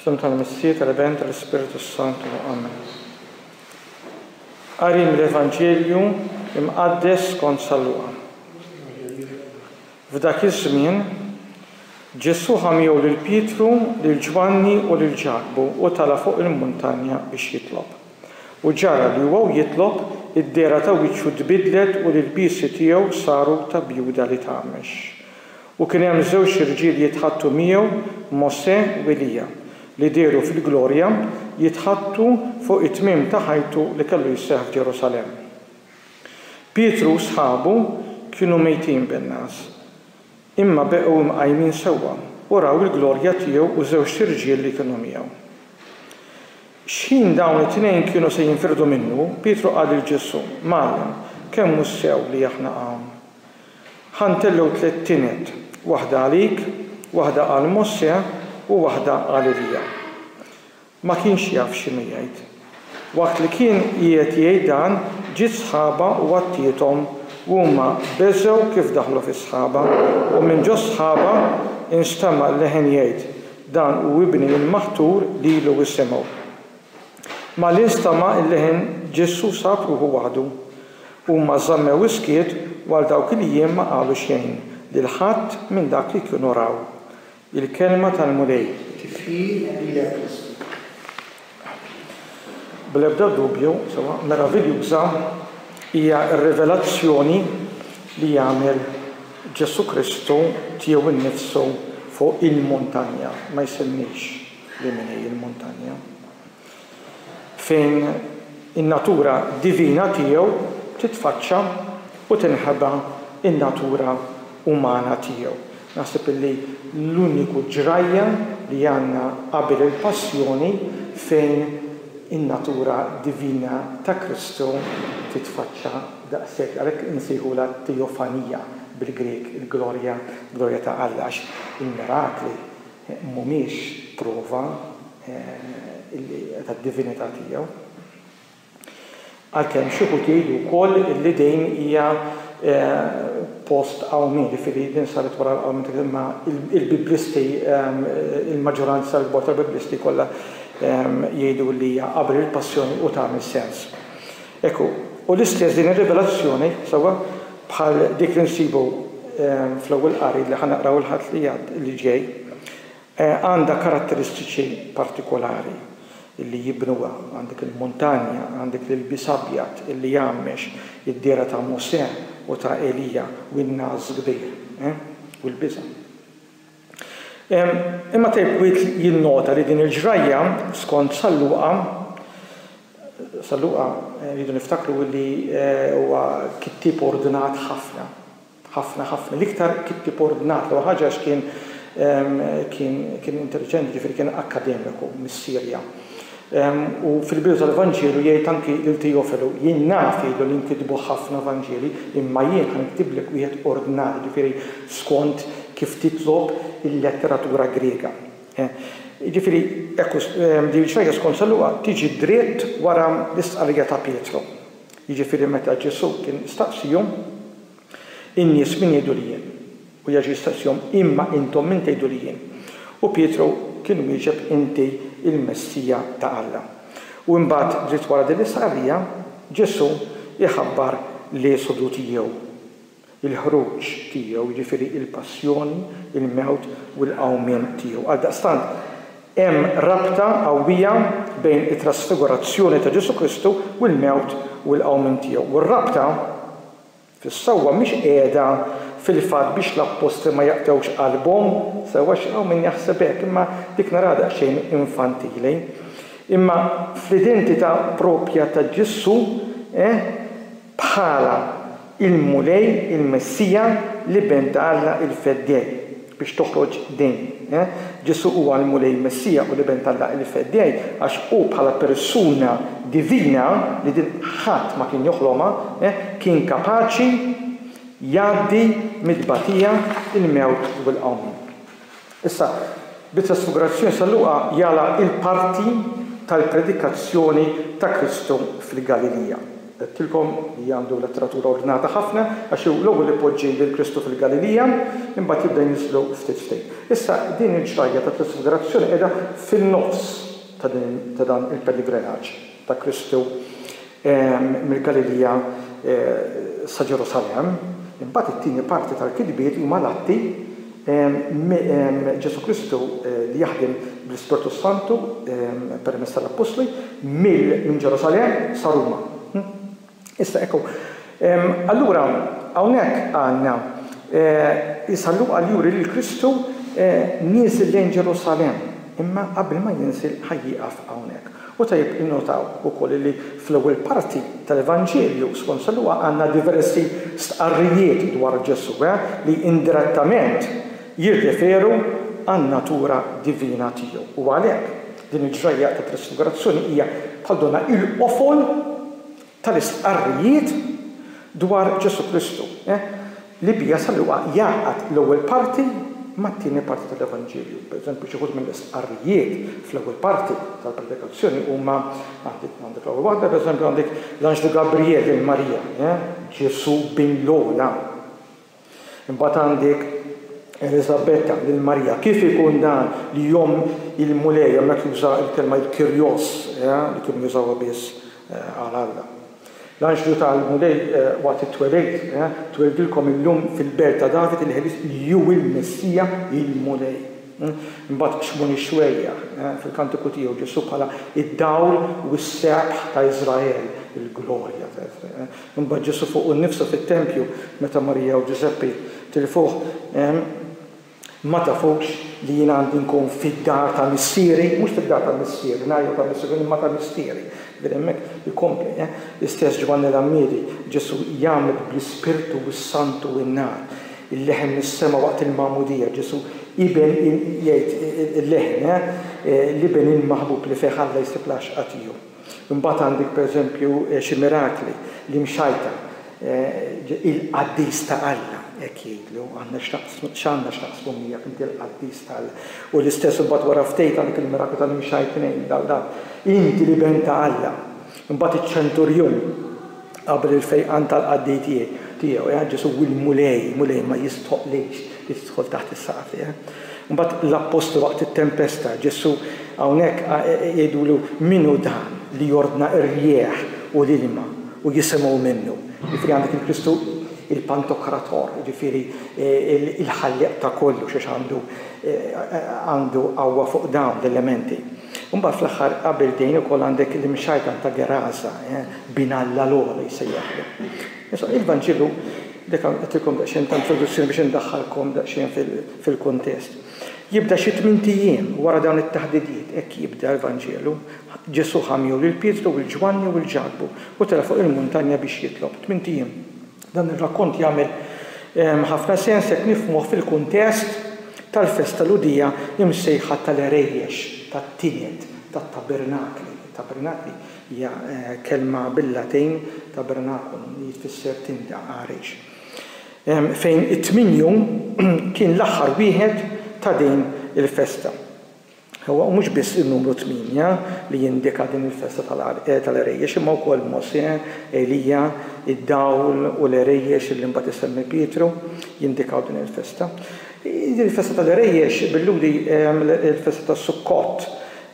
Fl-isem tal-Missir tal-Event tal-Ispirtu Santu. Amen. Qarim l-Evanġelju imqaddes kont sal-luqa. F'dak iż-żmien, Ġesù ħa miegħu lil Pietru, lil Ġwanni u lil Ġakbu u tala' fuq il-muntanja biex jitlob. U ġara li huwa u jitlob, id-dehra ta' wiċċu tbiddlet u l-ilbiesi tiegħu saru ta' bjuda li tgħammex. U kien hemm żewġ irġiel jitħaddtu miegħu, Mosè u Elija, li dehru fil-glorja, jitħaddtu fuq it-tmiem ta' ħajtu li kellu jseħħ f'Ġerusalemm. Pietru u sħabu kienu mejtin bin-ngħas, imma beqgħu imqajmin sewwa u raw il-glorja tiegħu u żewġt irġiel li kienu miegħu. X'ħin dawn it-tnejn kienu se jinfirdu minnu, Pietru qal lil Ġesù, Mgħallem, kemm hu sew li aħna hawn! Ħa ntellgħu tliet tined, waħda għalik, waħda għal Mosè u waħda għal Elija. Ma kienx jaf x'inhu jgħid. Waqt li kien qiegħed jgħid dan, ġiet sħaba u għattiethom u huma beżgħu kif daħlu fis-sħaba u minn ġo s-sħaba instema' leħen jgħid, Dan hu Ibni l-Maħtur lilu isimgħu. Malli nstema' l-leħen Ġesù sab ruħu waħdu. Huma żammew is-skiet u għal dawk il-jiem ma qalu xejn lil ħadd minn dak li kienu raw. Il-Kelma tal-Mulej. Tifħir lilek Kristu. Bl-ebda dubju, sewwa meraviljuża hija r-rivelazzjoni li jagħmel Ġesù Kristu tiegħu nnifsu fuq il-muntanja. Ma jsemmix li min hi l-muntanja. fejn in-natura divina tiegħu titfaċċa u tinħeba n-natura umana tiegħu. Naħseb li l-uniku ġrajja li għandna qabel il-Passjoni fejn in-natura divina ta' Kristu titfaċċa daqshekk, għalhekk insejħulha t-Teofanija bil-Grieg, il-glorja, glorja ta' Alla, għax il-mirakli, mhumiex prova tad-divinità tiegħu, għalkemm xi wħud jgħidu wkoll li din hija post-Qawmien, jiġifieri din saret wara l-Qawmien ta' imma il-Biblisti, il-maġġoranza l-kbar tal-Biblisti kollha jgħidu li hija qabel il-Passjoni u tagħmel sens. Hekk hu. U l-istess din ir-rivelazzjoni, sewwa, bħal dik li nsibu fl-Ewwel Qari li ħa naqraw il-Ħadd li għad-, li ġej, għandha karatteristiċi partikolari li jibnuha. Għandek il-muntanja, għandek l-ilbies abjad li jgħammex, id-dehra ta' Mosè u ta' Elija u n-nagħas kbir, eh? u l-biża'. Imma Thirkgwiedt jinnota li din il-ġrajja, skont San Luqa, San Luqa, rridu niftakru li huwa kittieb ordnat ħafna, ħafna, ħafna, l-iktar kittieb ordnat, l-ewwel ħaġa għax kien kien kien intelliġenti, jiġifieri kien akkademiku mis-Sirja, U fil-bidu tal-Vanġelu jgħid anki lil Tijofelu, Jien naf, jgħidlu, li nkitbu ħafna Vanġeli, imma jien ħa niktiblek wieħed ordnarju, jiġifieri skont kif titlob il-letteratura Griega. Jiġifieri, hekk hu, din ix-xejra skont San Luqa tiġi dritt wara l-istqarrija ta' Pietru, jiġifieri meta Ġesù kien staqsihom, In-nies min jgħidu li jien? U Jeġu jistaqsihom, Imma intom min tgħidu li jien? U Pietru kien wieġeb, Inti l-Messija ta' Alla. U imbagħad dritt wara din l-istqarrija, Ġesù jħabbar l-esodu tiegħu, il-ħruġ tiegħu, jiġifieri l-passjoni, il-mewt u l-qawmien tiegħu. Għaldaqstant, hemm rabta qawwija bejn it-trasfigurazzjoni ta' Ġesù Kristu u l-mewt u l-qawmien tiegħu. U r-rabta. fis-sewwa mhix qiegħda fil-fatt biex l-appostli ma jaqtgħux qalbhom, sewwa xi hawn min jaħseb hekk, imma dik naraha daqsxejn infantili. Imma fl-identità proprja ta' Ġesù, eh, bħala il-Mulej, il-Messija, l-Iben ta' Alla il-feddej. biex toħroġ din, eh? Ġesù huwa l-Mulej, il-Messija u l-Iben t'Alla il-Feddej għax hu bħala persuna divina, li din ħadd ma kien joħlomha, eh, kien kapaċi jgħaddi mit-tbatija, il-mewt u l-qawmien. Issa, bi trasfigurazzjoni San Luqa jagħlaq il-parti tal-predikazzjoni ta' Kristu fil-Galilija. Għedtilkom li għandu letteratura ordnata ħafna, għax hu l-ewwel ipoġġi lil Kristu fil-Galilija, imbagħad jibda jinżlu ftit ftit. Issa, din il-ġrajja ta' trasfigurazzjoni qiegħda fin-nofs ta' din ta' dan il-peligrenaġġ ta' Kristu mill-Galilija sa Ġerusalemm. Imbagħad it-tieni parti tal-kitbiet huma l-Atti Ġesù Kristu li jaħdem bl-Ispirtu s-Santu permezz tal-Appostli mill minn Ġerusalemm sa Ruma. Issa ekku. Allura hawnhekk għandna Isa Luqa li juri lil Kristu nieżel lejn Ġerusalemm, imma qabel ma jinżel ħa jieqaf hawnhekk. U tajjeb innotaw ukoll li fl-ewwel parti tal-Evanġelju skont San Luqa għandna diversi stqarrijiet dwar Ġesù li indirettament jirreferu għan-natura divina tiegħu. U għalhekk, din il-ġrajja tat-Trasfigurazzjoni hija bħal donnha l-qofol tal-istqarrijiet dwar Ġesù Kristu, li biha San Luqa jgħaqqad l-ewwel parti mat-tieni parti tal-Evanġelju. Pereżempju, xi wħud mill-istqarrijiet fl-ewwel parti tal-Predikazzjoni huma, għandek l-ewwel waħda, pereżempju, għandek l-anġlu Gabrijel lil Marija, Ġesù bin l-ogħla. Imbagħad għandek Eliżabetta lil Marija. Kif ikun dan li jom il-Mulej hemmhekk juża l-kelma il-Kyrios li kienu jużawha biss għal Alla. L-anġlu tal-Mulej waqt it-twelid, Tweldilkom illum fil-belt ta' David il-Ħelieq li hu l-Messija, il-Mulej. Imbagħad b'xmon ix-xwejjaħ, fil-Kantiku tiegħu, Ġesù bħala d-dawl u s-sebħ ta' Iżrael, il-glorja ta' Iżrael. Imbagħad Ġesù fuqu nnifsu fit-tempju, meta Marija u Ġużeppi tilfuh, hemm, Ma tafux li jien għandi nkun fid-dar ta' Missieri? Mhux fid-dar ta' Missieri, ngħid jew ta' Missieri, imma ta' Missieri. Vedi hemmhekk, ikompli, eh? L-istess Ġwanni l-Għammiedi, Ġesù jgħammed bl-Ispirtu u s-Santu u n-nar. Il-leħen mis-sema waqt il-Magħmudija, Ġesù, Iben il, jgħid il-leħen, eh? L-Iben il-maħbub li fih Alla jsib l-għaxqa tiegħu. Imbagħad għandek pereżempju xi mirakli li mxajtar il-qaddis ta' Alla hekk jgħidlu, aħna x'għandna x'naqsmu miegħek inti l-qaddis ta' Alla. U l-istess imbagħad wara ftit għandek il-miraklu tal-imxajtrin, inti l-Iben ta' Alla. Imbagħad iċ-ċenturjun. Qabel il-fejqan tal-qaddej tiegħu, eh, Ġesù hu l-Mulej, Mulej ma jistħoqqlekx li tidħol taħt is-saqaf tiegħi. Imbagħad l-appostli waqt it-tempesta, Ġesù hawnhekk jgħidulu min hu dan li jordna r-rjieħ u l-ilma u jisimgħu minnu. Jiġifieri għandek il-Kristu il-Pantokrator, jiġifieri il-ħallieq ta' kollox għax għandu qawwa fuq dawn l-elementi. Imbagħad fl-aħħar qabel din ukoll għandek l-imxajtan ta' Gerasa, bin Alla l-Ogħla jsejjaħlu. Issa, il-Vanġelu dek hawn qedtilkom daqsxejn ta' introduzzjoni biex indaħħalkom daqsxejn fil-kuntest. Jibda xi tmint ijiem wara dawn it-taħdidiet, hekk jibda l-Vanġelu, Ġesù ħa miegħu lil Pietru u lil Ġwanni u lil Ġakbu u tela' fuq il-muntanja biex jitlob. Tmint ijiem. Dan ir-rakkont jagħmel ħafna sens jekk nifhmuh fil-kuntest tal-festa Lhudija msejħa tal-Għerejjex tat-Tined tat-Tabernakli. Tabernakli hija kelma bil-Latin, tabernaculum, li tfisser tinda, għarejx, fejn it-tmien jum kien l-aħħar wieħed ta' din il-festa. Huwa u mhux biss in-numru tmienja li jindika din il-festa tal-għerejjex imma wkoll Mosè, Elija, id-dawl u l-għerejjex li mbagħad isemmi Pietru jindikaw din il-festa. Din il-festa tal-għerejjex billuri l-festa tas-Sukkot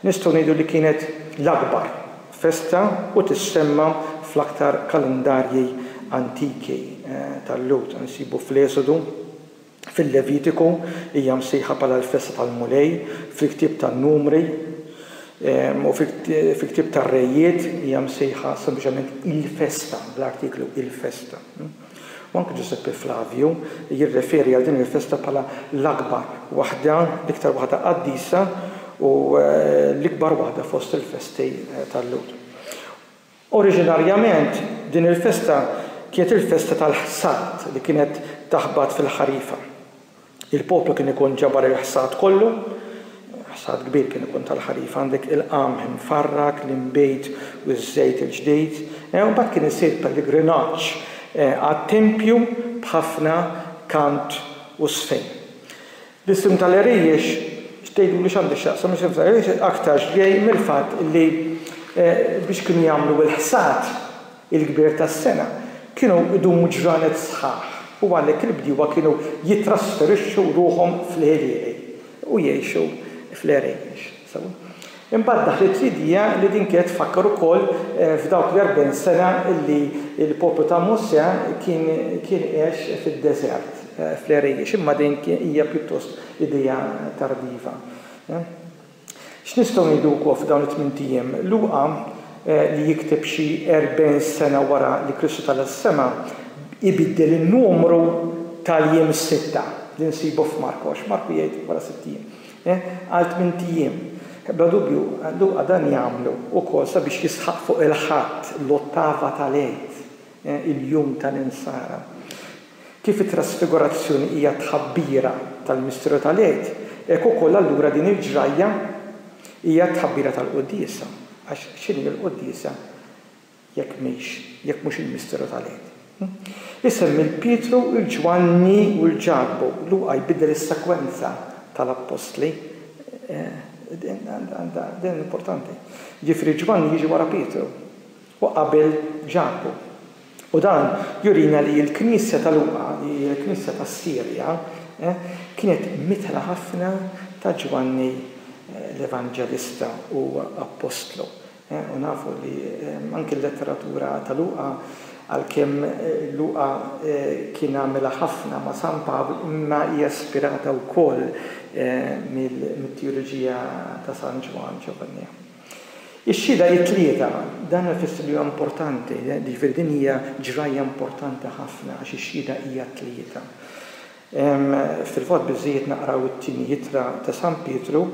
nistgħu ngħidu li kienet l-akbar festa u tissemma fl-aktar kalendarji antiki tal-Lhud. Insibu fl-Esodu, fil-Levitiku, hija msejħa bħala l-festa tal-Mulej, fil-ktieb tan-Numri u fil-ktieb tar-Rejiet hija msejħa sempliċement il-festa, bl-artiklu il-festa. U anki Ġużeppi Flavju jirreferi għal din il-festa bħala l-akbar waħda, l-iktar waħda qaddisa u l-ikbar waħda fost il-festi tal-Lhud. Oriġinarjament, din il-festa kienet il-festa tal-ħsad li kienet taħbat fil-ħarifa. Il-poplu kien ikun ġabar il-ħsad kollu, ħsad kbir kien ikun tal-ħarifa, għandek il-qamħ imfarrak, l-inbid u ż-żejt il-ġdid, u mbagħad kien isir pellegrinaġġ għat-tempju b'ħafna kant u żfin. L-isem tal-għeriex, x'tgħiduli x'għandu x'jaqsam l-isem tal-għeriex aktarx ġej mill-fatt li biex kienu jagħmlu il-ħsad il-kbir tas-sena kienu jdumu ġranet sħaħ u għalhekk il-bdiewa kienu jittrasferixxu ruħhom fl-għirieri u jgħixu fl-għeriex. Imbagħad daħlet Lidija li din kienet tfakkar ukoll f'dawk l-erbgħin sena li l-poplu ta' Mosè kien kien għex fid-deżert, fl-għerejjex, imma din hija pjuttost idea tardiva. X'nistgħu ngħidu wkoll f'dawn it-tmint ijiem? Luqa, li jikteb xi erbgħin sena wara li Kristu tala' s-sema, ibiddel in-numru tal-jiem sitta li nsibu f'Marku, għax Marku jgħid wara sitt ijiem. għal tmint ijiem. Bla dubju, Luqa dan jagħmlu wkoll sabiex jisħaq fuq il-Ħadd, l-ottava tal-Għid, il-jum tal-Insara. Kif it-Trasfigurazzjoni hija tħabbira tal-misteru tal-Għid, hekk ukoll allura din il-ġrajja hija tħabbira tal-Quddiesa, għax x'inhi l-Quddiesa jekk mhix, jekk mhux il-misteru tal-Għid. Isem il Pietru, il Ġwanni u l Ġakbu. Luqa jbiddel is-sekwenza tal-appostli. Din importanti. Jiġifieri Ġwanni jiġi wara Pietru u qabel Ġakbu. U dan jurina li l-Knisja ta' Luqa, li hija l-Knisja tas-Sirja, kienet mitħla ħafna ta' Ġwanni l-Evanġelista u appostlu. U nafu li anki l-letteratura ta' Luqa, għalkemm Luqa kien għamilha ħafna ma' San Pawl, imma hija ispirata wkoll mit-tijoloġija ta' San Ġwann Ġovanni. Ix-xhieda hi tlieta, dan ifisser li huwa importanti, jiġifieri din hija ġrajja importanti ħafna għax ix-xhieda hija tlieta. Hemm fil-fatt biżżejjed naqraw it-Tieni Ittra ta' San Pietru.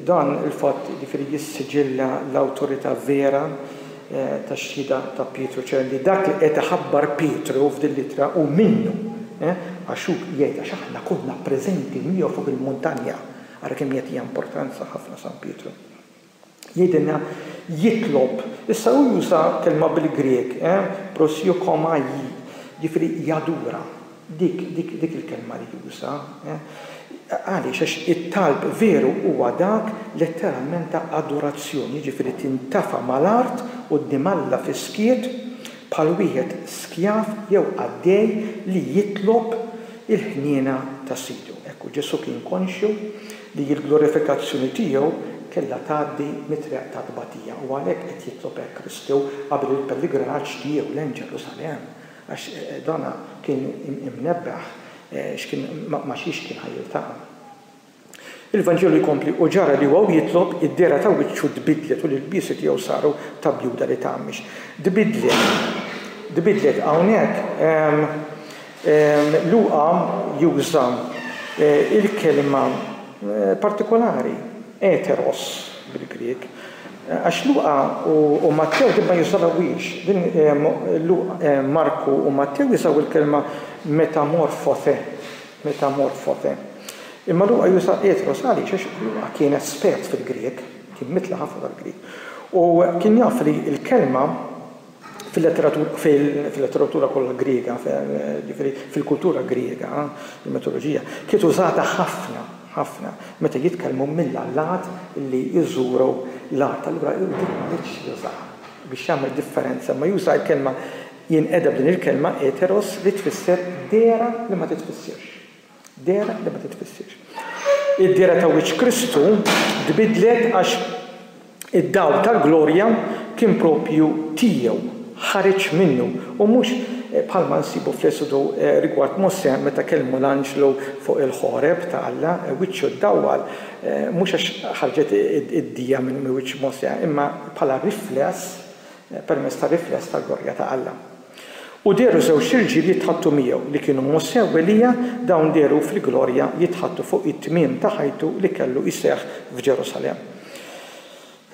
Dan il-fatt jiġifieri jissiġilla l-awtorità vera tax-xhieda ta' Pietru, ċe li dak li qiegħed iħabbar Pietru f'din l-ittra hu minnu, għax hu jgħid għax aħna konna preżenti miegħu fuq il-muntanja. Ara kemm jagħtiha importanza ħafna San Pietru. jgħidilna jitlob. Issa hu juża kelma bil-Grieg, prosiochomai, jiġifieri jadura. Dik, dik, dik il-kelma li juża. Għaliex? Għax it-talb veru huwa dak letteralment ta' adorazzjoni, jiġifieri tintafa' mal-art quddiem Alla fis-skiet bħal wieħed skjav jew qaddej li jitlob il-ħniena ta' sidu. Hekk hu, Ġesù kien konxju li l-glorifikazzjoni tiegħu kellha tgħaddi mit-triq tat-tbatija u għalhekk qed jitlob hekk Kristu qabel il-pelligrinaġġ tiegħu lejn Ġerusalemm, għax dan kien imnebbeħ x'kien ma' xiex kien ħa jiltaqa'. Il-Vanġelu jkompli, U ġara li huwa jitlob, id-dehra ta' wiċċu tbiddlet u l-ilbiesi tiegħu saru ta' bjuda li tgħammix. Tbiddlet, tbiddlet hawnhekk, Luqa juża l-kelma partikolari, heteros bil-Grieg, għax Luqa u Mattew din ma jużawhiex. Marku u Mattew jużaw il-kelma metamorphothe, metamorphothe. Imma Luqa juża heteros għaliex? Għax Luqa kien espert fil-Grieg, kien mitla' ħafna tal-Grieg, u kien jaf li l-kelma Fil-letteratura kollha Griega, jiġifieri fil-kultura Griega, il-mitoloġija kienet użata ħafna, ħafna, meta jitkellmu mill-allat li jżuru l-art. Allura hu din ma ridx jużaha biex jagħmel differenza, imma juża l-kelma jinqeda b'din il-kelma heteros li tfisser dehra li ma titfissirx. Dehra li ma titfissirx. Id-dehra ta' wiċċ Kristu tbiddlet għax id-dawl tal-glorja kien proprju tiegħu, ħareġ minnu, u mhux bħalma nsibu fl-Esodu rigward Mosè meta kellmu l-anġlu fuq il-Ħoreb ta' Alla, wiċċu ddawwal, mhux għax ħarġet id-dija minn wiċċ Mosè, imma bħala rifless, permezz tar-rifless tal-glorja ta' Alla. U dehru żewġt irġiel jitħaddtu miegħu, li kienu Mosè u Elija, dawn dehru fil-glorja jitħaddtu fuq it-tmiem ta' ħajtu li kellu jseħħ f'Ġerusalemm.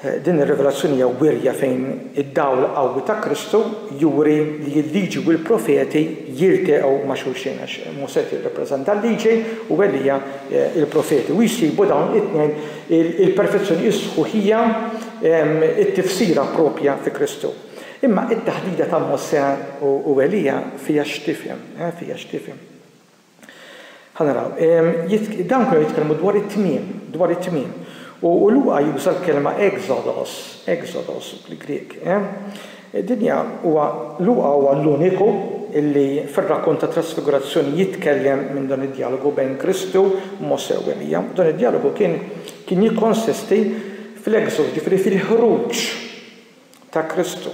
Din ir-rivelazzjoni hija wirja fejn id-dawl qawwi ta' Kristu juri li l-Liġi u l-Profeti jilteqgħu ma' xulxin, għax Mosè jirrappreżenta l-Liġi u Elija l-Profeti, u jsibu dawn it-tnejn il-perfezzjoni, is-sħuħija, it-tifsira proprja fi Kristu. Imma it-taħdida ta' Mosè u Elija fiha x'tifhem? Fiha x'tifhem? Ħa naraw. Dawn kienu jitkellmu dwar it-tmiem, dwar it-tmiem. U Luqa juża l-kelma exodos, exodos fil-Grieg. Dinja huwa Luqa huwa l-uniku illi fir-rakkont ta' trasfigurazzjoni jitkellem minn dan id-djalogu bejn Kristu, Mosè u Elija. Dan id-djalogu kien kien jikkonsisti fl-exodus, ġifieri fil-ħruġ ta' Kristu.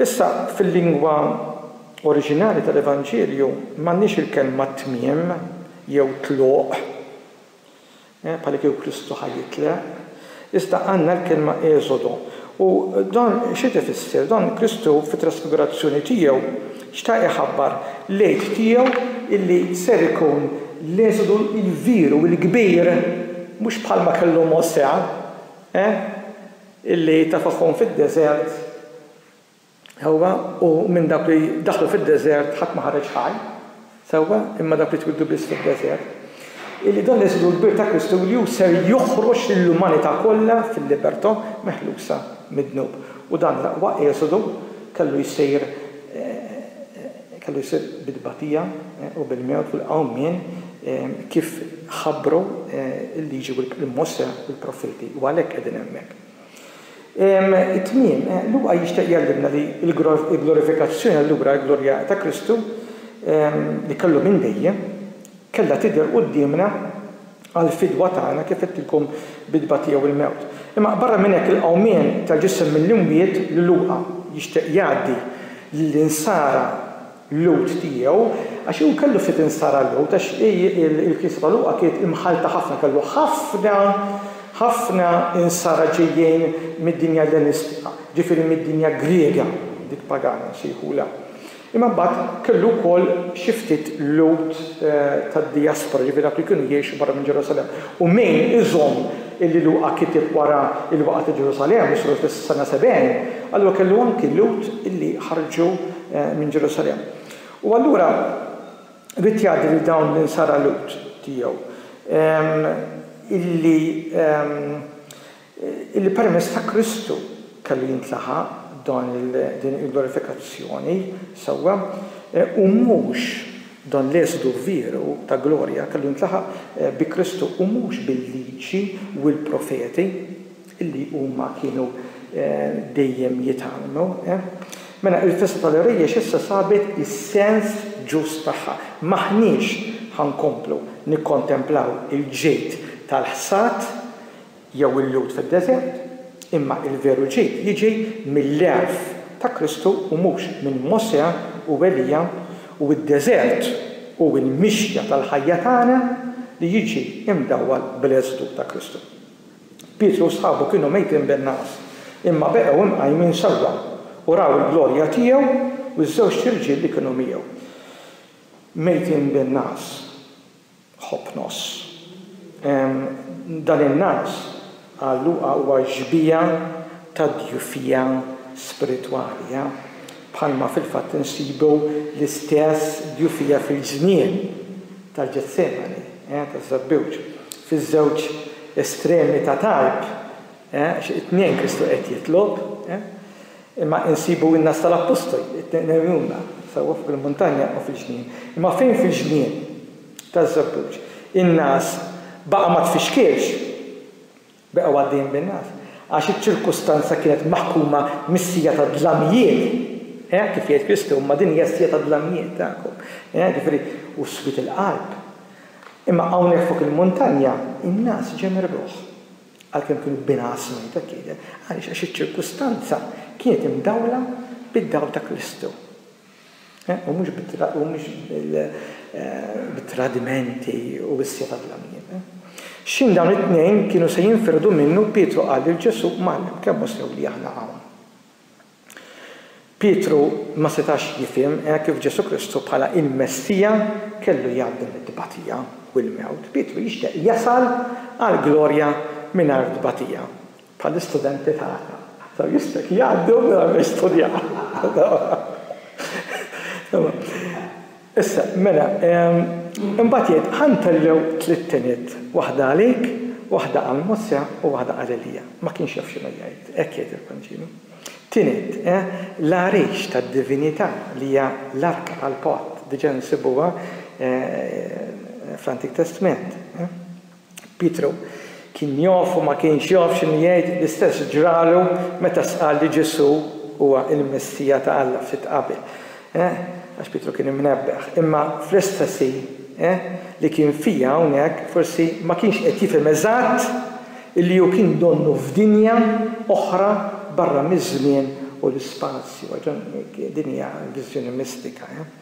Issa, fil-lingwa oriġinali tal-Evanġelju m'għandniex il-kelma tmiem jew tluq, bħalikieku Kristu ħa jitleq, iżda għandna l-kelma eżodo. U dan x'qed ifisser? Dan Kristu fit-trasfigurazzjoni tiegħu xtaq iħabbar l-Għid tiegħu illi ser ikun l-eżodu l-kbir u l-kbir, mhux bħalma kellu Mosè, eh? illi tafagħhom fid-deżert, sewwa, u minn dawk li daħlu fid-deżert ħadd ma ħareġ ħaj, sewwa, imma dawk li twieldu biss fid-deżert, illi dan l-eżilu kbir ta' Kristu li hu ser joħroġ lill-umanità kollha fil-libertà meħlusa mid-dnub. U dan l-aqwa eżodu kellu jsir Kellu jsir bit-tbatija u bil-mewt fil-qawmien kif ħabbru l-Liġi u Mosè u l-Profeti, u għalhekk qegħdin hemmhekk. It-tmiem, Luqa jixtieq jgħallimna li l-glorifikazzjoni allura, il-glorja ta' Kristu, li kellu minn dejjem, Kellha tidher quddiemna għall-fidwa tagħna, kif għedtilkom, bit-tbatija jew il-mewt. Imma barra minn hekk, il-qawmien tal-ġisem mill-imwiet li Luqa jixtieq jgħaddi lill-insara Lhud tiegħu, għax hu kellu ftit insara Lhud, għax il-Knisja ta' Luqa kienet imħallta ħafna, kellu ħafna, ħafna insara ġejjin mid-dinja Ellenistika, ġifieri mid-dinja Griega, dik pagana nsejħulha. Imma mbagħad kellu wkoll xi ftit Lhud tad-dijaspora, ġifieri dawk li kienu jgħixu barra minn Ġerusalemm. U min iżomm illi Luqa kiteb wara l-waqgħa ta' Ġerusalemm, li saru fis-sena 70, allura kellu anki Lhud illi ħarġu minn Ġerusalemm. U allura ried jgħaddi lil dawn l-insara Lhud tiegħu illi Illi permezz ta' Kristu kellu jintlaħaq dan din il-glorifikazzjoni, sewwa, u mhux dan l-esodu veru ta' glorja kellu jintlaħaq bi Kristu u mhux bil-Liġi u l-Profeti, illi huma kienu dejjem jitgħallmu. Mela, il-Festa tal-Irjiex issa sabet is-sens ġust tagħha. M'aħniex ħa nkomplu nikkontemplaw il-ġid tal-ħsad jew il-Lhud fid-deżert, imma l-veru ġid jiġi mill-għerf ta' Kristu u mhux minn Mosè u Elija u d-deżert hu l-mixja tal-ħajja tagħna li jiġi mdawwal bl-eżdu ta' Kristu. Pietru u sħabu kienu mejtin bin-nagħas, imma beqgħu imqajmin sewwa u raw il-glorja tiegħu u ż-żewġt irġiel li kienu miegħu. Mejtin bin-nagħas. Ħobb nofs. Dan in-naqs għal Luqa huwa xbieha tad-djufija spiritwali, bħalma fil-fatt insibu l-istess djufija fil-ġnien tal-Ġetsemani, taż-żebbuġ, fiż-żewġ estremi ta' talb, it-tnejn Kristu qed jitlob. Imma insibu in-nas tal-appostoli, it-tnejn għejuna sewwa fuq il-muntanja u fil-ġnien. Imma fejn fil-ġnien taż-Żebbuġ in-nas baqa' ma tfixkilx, beqgħu għaddejjin bin-nas, għax iċ-ċirkustanza kienet maħkuma mis-siegħa tad-dlamijiet, eh, kif jgħid Kristu, imma din hija s-siegħa tad-dlamijiet tagħkom, eh, jiġifieri, u swied il-qalb. Imma hawnhekk fuq il-muntanja in-nas ġemergħuh. għalkemm kienu b'inqas mejt, hekk jidher. Għaliex? Għax iċ-ċirkustanza kienet imdawla bid-dawl ta' Kristu, u mhux bit-tradimenti u s-seta' tal-għamlieb. X'ħin dawn it-tnejn kienu se jinfirdu minnu, Pietru qal lil Ġesù, Mgħallem, kemm hu sew li aħna hawn? Pietru ma setax jifhem hekk kif Ġesù Kristu bħala l-Messija kellu jgħaddi mit-tbatija u l-mewt. Pietru jixtieq jasal għall-glorja mingħajr tbatija, bħall-istudenti tagħna. Dawn jixtieq jgħaddu mingħajr ma jistudjaw. Issa, mela, imbagħad jgħid, Ħa nterrew tliet tiniet, waħda għalik, waħda għal Mosè u waħda għal Elija. Ma kienx jaf x'inhu jgħid, hekk jgħid il-Vanġelu. Tiniet, l-għarix tad-divinità li hija l-arka tal-patt, diġà nsibuha fl-Antik Testment. Pietru kien jaf u ma kienx jaf x'inhu jgħid, l-istess ġralu meta stqarr li Ġesù huwa l-Messija ta' Alla ftit qabel, eh, għax Pietru kien imnebbeħ. Imma fl-istess ħin, eh, li kien fija hawnhekk forsi ma kienx qed jifhem eżatt illi hu kien donnu f'dinja oħra barra miż-żmien u l-ispazju. Din hija viżjoni mistika, eh.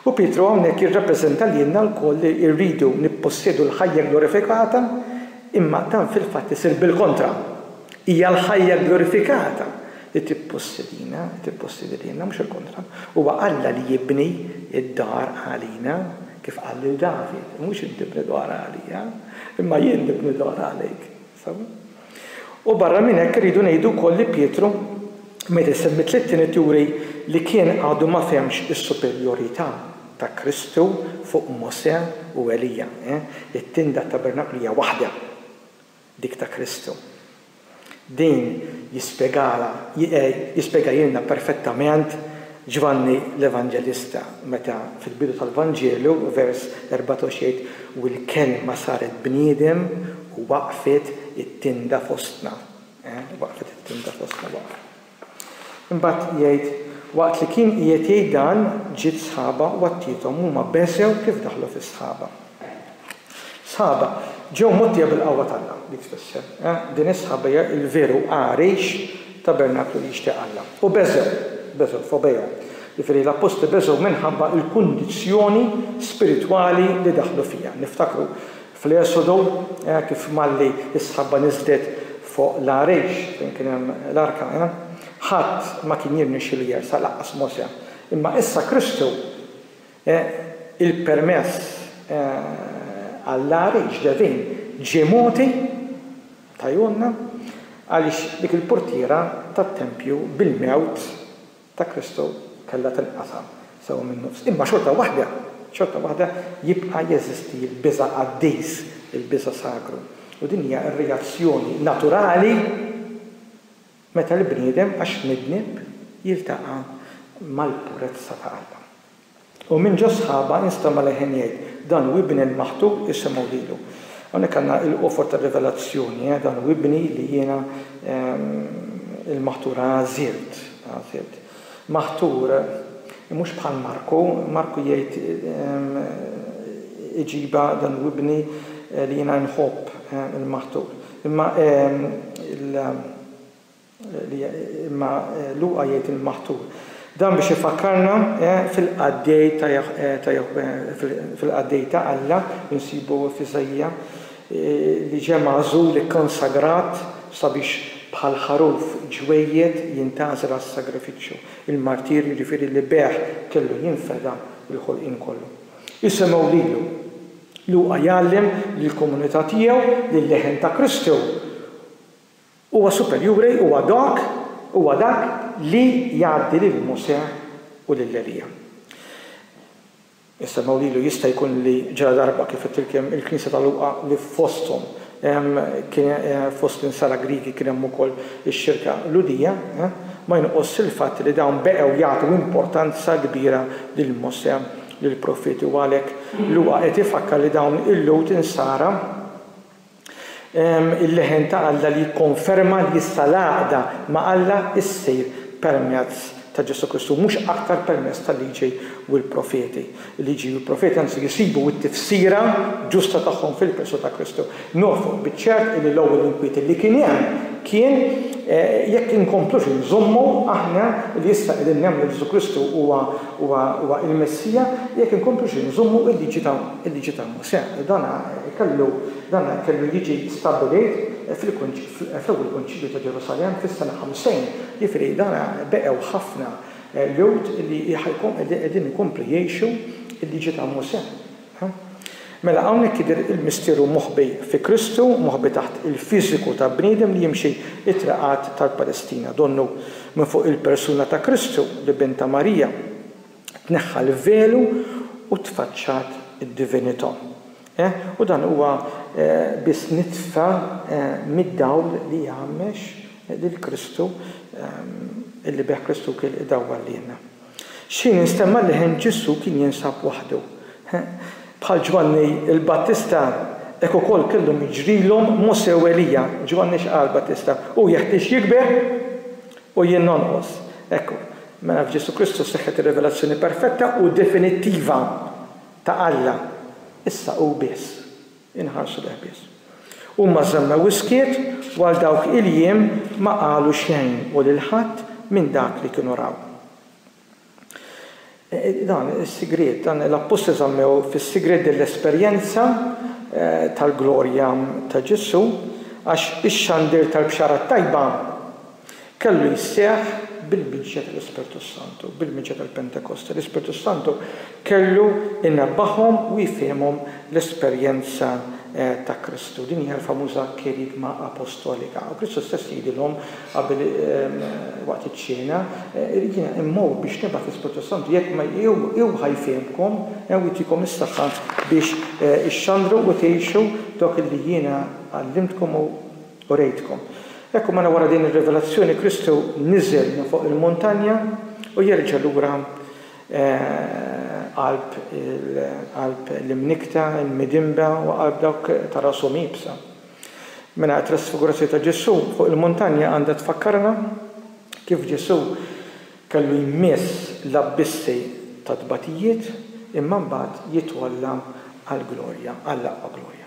U Pietru hawnhekk jirrappreżenta lilna lkoll li rridu nippossjedu l-ħajja glorifikata, imma dan fil-fatt isir bil-kontra. Hija l-ħajja glorifikata li tippossedina, li tippossedi lilna, mhux il-kontra. Huwa Alla li jibni d-dar għalina, kif qal lil David, Mhux inti bni dwar għalija, imma jien nibni d-dwar għalik. U barra minn hekk irridu ngħidu wkoll li Pietru meta jsemmi t-tliet ined juri li kien għadu ma fehmx is-superjorità ta' Kristu fuq Mosè u Elija. It-tin tat-tabernaklu hija waħda, dik ta' Kristu. Din jispjegalha jispjegahielna perfettament Ġvanni l-Evanġelista, meta fil-bidu tal-Vanġelu, vers 14 jgħid, U l-Kelma saret bniedem u waqfet it-tinda fostna. Waqfet it-tinda fostna, waqfet. Imbagħad jgħid, Waqt li kien qiegħed jgħid dan, ġiet sħaba u għattiethom, huma beżgħu kif daħlu fis-sħaba. Sħaba, ġew mgħottija bil-qawwa t'Alla, dik tfisser. Din is-sħaba hija l-veru għarix, tabernaklu li jixtieq Alla. U beżgħu, beżgħu, phobeo, jiġifieri l-appostli beżgħu minħabba l-kundizzjoni spiritwali li daħlu fiha. Niftakru fl-Esodu kif malli s-sħaba niżlet fuq l-għarix fejn kien hemm l-arka, ħadd ma kien jirnexxielu jersaq, lanqas Mosè. Imma issa Kristu E. Il-permess għall-għar ġdevin ġie mogħti, tgħajjunna, għaliex dik il-purtiera tat-tempju bil-mewt ta' Kristu kellha tinqasam sew min-nofs. Imma xorta waħda, xorta waħda jibqa' jeżisti l-biża' qaddis, il-biża' sagru. U din hija r-reazzjoni naturali. Meta l-bniedem għax midneb jiltaqa' mal-purezza ta' Alla. U minn ġo sħaba jinstema' leħen jgħid, Dan hu Ibni l-Maħtub, isimgħu lilu. Hawnhekk għandna il-qofor tar-rivelazzjoni, eh, Dan hu Ibni li jiena, il-Maħtur, għażilt, għażilt. Maħtur, mhux bħal Marku, Marku jgħid iġibha, Dan hu Ibni li jiena nħobb, il-Maħtur. Imma imma Luqa jgħid il-maħtur. Dan biex ifakkarna fil-qaddej ta' ta' fil-qaddej ta' Alla li nsibu f'Iżaija li ġie magħżul ikkonsagrat sabiex bħal ħaruf ġwejjed jintgħażel għas-sagrifiċċju, il-martirju jiġifieri li bih kellu jinfeda l-ħolqien kollu. Isemgħu lilu! Luqa jgħallem li l-komunità tiegħu, li l-leħen ta' Kristu huwa superjuri, huwa dak, huwa dak li jgħaddi lil Mosè u lil Elija. Insemmew lilu jista' jkun li ġara darba kif qed tilkem il-Knisja ta' Luqa li fosthom hemm kien fost l-insara Griegi kien hemm ukoll ix-xirka Lhudija, ma jinqosx il-fatt li dawn beqgħu jagħtu importanza kbira lil Mosè lill-profeti u għalhekk Luqa qed ifakkar li dawn il-Lhud insara il-leħen ta' Alla li jikkonferma li issa l-għaqda ma' Alla ssir permezz ta' Ġesù Kristu mhux aktar permezz tal-Liġi u l-Profeti. Il-Liġi u l-Profeti anzi jsibu t-tifsira ġusta tagħhom fil-Kristu ta' Kristu. Nofqu biċ-ċert illi l-ewwel inkwiet illi kien hemm kien jekk inkomplux inżommu aħna li issa qegħdin nemmnu li Ġesù Kristu huwa l-Messija, jekk inkomplux inżommu l-Liġi ta' Mosè. Dan kellu jiġi stabbilit fl-Ewwel Kunċilju ta' Ġerusalemm fis-sena 50, jiġifieri dan beqgħu ħafna Lhud li qegħdin ikomplu jgħixu l-Liġi ta' Mosè. Mela hawnhekk jidher il-misteru moħbi fi Kristu, moħbi taħt il-fiżiku ta' bniedem li jimxi t-triqat tal-Palestina. Donnu minn fuq il-persuna ta' Kristu li Bint ta' Marija tneħħa l-velu u tfaċċat id-divinità. U dan huwa biss nitfa mid-dawl li jgħammex lil Kristu, illi bih Kristu kien idawwal lilna. X'ħin instemma li ħen Ġesù kien jinsab waħdu. Bħal Ġwanni l-Battista, hekk ukoll kellhom jiġrilhom Mosè u Elija. Ġwanni x'qal l-Battista? Hu jeħtieġ jikber u jien nonqos. Ekku, mela f'Ġesù Kristu seħħet ir-rivelazzjoni perfetta u definittiva ta' Alla. Issa hu biss. inħarsu lejh biss. Huma żammew is-skiet u għal dawk il-jiem ma qalu xejn u lil ħadd minn dak li kienu raw. Dan is-sigriet, dan l-appostli żammew fis-sigriet din l-esperjenza tal-glorja ta' Ġesù, għax ix-xandir tal-Bxara t-Tajba Kellu jseħħ bil-miġja tal-Ispirtu s-Santu, bil-miġja tal-Pentekosti. L-Ispirtu s-Santu kellu jnebbaħhom u jfihimhom l-esperjenza ta' Kristu. Din hija l-famuża kerygma apostolika. U Kristu stess jgħidilhom qabel waqt iċ-ċena, Jiena immur biex nibgħat l-Ispirtu s-Santu, jekk ma hu ħa jfihmkom u jtikom is-saħħa biex ixxandru u tgħixu dawk li jiena għallimtkom u Urejtkom. Hekk u mela wara din ir-rivelazzjoni Kristu niżel minn fuq il-muntanja u jerġa' lura qalb qalb l-imnikkta, il-midinba u qalb dawk ta' rashom iebsa. Mela t-trasfigurazzjoni ta' Ġesù fuq il-muntanja għandha tfakkarna kif Ġesù kellu jmiss l-abbissi tat-tbatijiet imma mbagħad jitwalla għall-glorja, għall-aqwa glorja.